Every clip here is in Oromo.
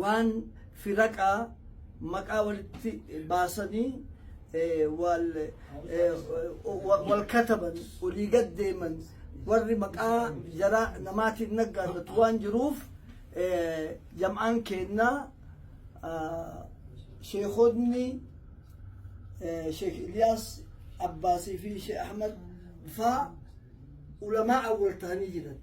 waan firaqaa maqaa walitti baasanii wal kataban olii gad deeman warri maqaa jara namaatiin naggaadatu waan jiruuf jam'aan keennaa sheekonni sheek Iliyaas Abbaasii fi sheek Ahmad faa ulamaa awwal ta'anii jiran.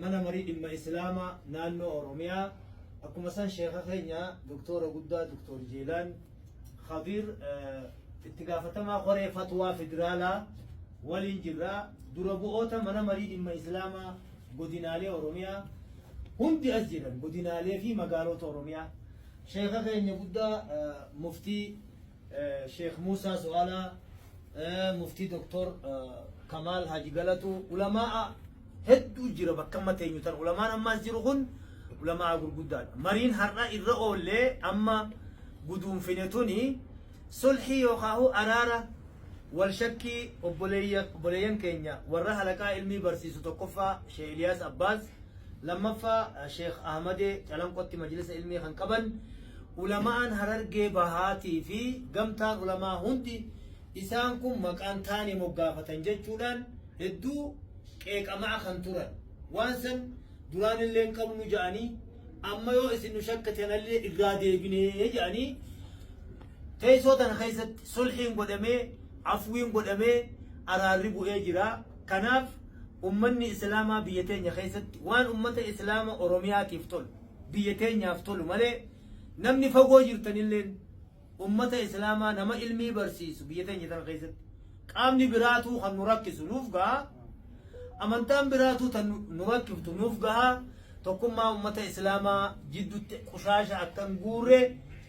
Mana marii dhimma Islaamaa naannoo Oromiyaa akkuma san sheeka keenya doktoora guddaa doktor Jeelaan Khadir itti gaafatamaa koree fatwaa federaalaa waliin jirra dura bu'oota mana marii dhimma Islaamaa godinaalee Oromiyaa hundi as jiran godinaalee fi magaalota Oromiyaa sheeka keenya guddaa muftii Sheikh Musa Su'ala, Muftii Doktor Kamaal Haji Galatu, Ulamaa'a hedduu jira bakka amma teenyu tan ulamaan amma as jiru kun ulamaa gurguddaadha. Mariin har'a irra oollee amma guduunfine tuni sulhii yookaahu araara wal shakkii obboleeyyan keenya warra halaqaa ilmii barsiisu tokkoffaa Sheikh Iliyaas Abbaas Lammaffaa Sheikh Ahmadee Calanqotti majlisa ilmii kan qaban ulama'aan Harargee Bahaatii fi gamtaan ulamaa hundi isaan kun maqaan taane moggaafatan jechuudhaan hedduu qeeqamaa kan turan. Waan san duraan illee hin qabnu ja'anii amma yoo isin nu shakkitanallee irraa deebinee ja'anii teessoo tana keessatti sulhiin godhamee afwiin godhamee araarri bu'ee jira. Kanaaf ummanni Islaamaa biyya teenya keessatti waan ummata Islaama Oromiyaatiif tolu, biyya teenyaaf tolu malee namni fagoo jirtan illeen ummata Islaamaa nama ilmii barsiisu biyya teenya tana keessatti qaamni biraatuu kan nu rakkisu nuuf gaha, amantaan biraatuu tan nu- nu rakkiftu nuuf gaha, tokkummaa ummata Islaamaa jiddutti qushaasha akka hin guurre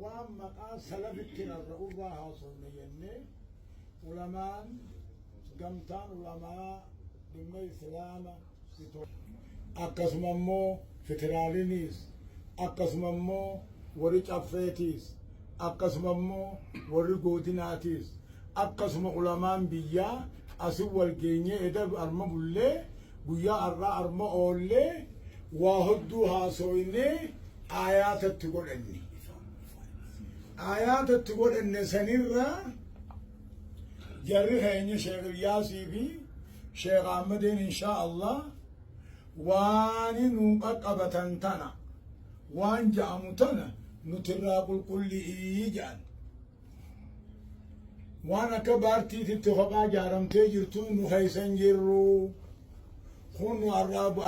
Waan maqaa salafitti rarra'urraa haasofne jennee ulamaan gamtaan ulamaa dhimma islaama Itoophiyaa akkasuma immoo federaaliniis akkasuma immoo warri caffeetiis akkasuma immoo warri goodinaatiis akkasuma ulamaan biyyaa asin wal geenyee eda arma bullee guyyaa har'aa arma oollee waa hodduu haasooynee aayaata itti godhanne aayaata itti godhanne sanirra jarri keenya sheekh Ilyaasii fi sheekh Ahmadeen inshaa Allah waan nuun qaqqabatan tana waan ja'amu tana nutirraa qulqulli'ii ja'an waan akka baartiititti kophaa jaaramtee jirtu nu keessa hin jirru kun nu arraa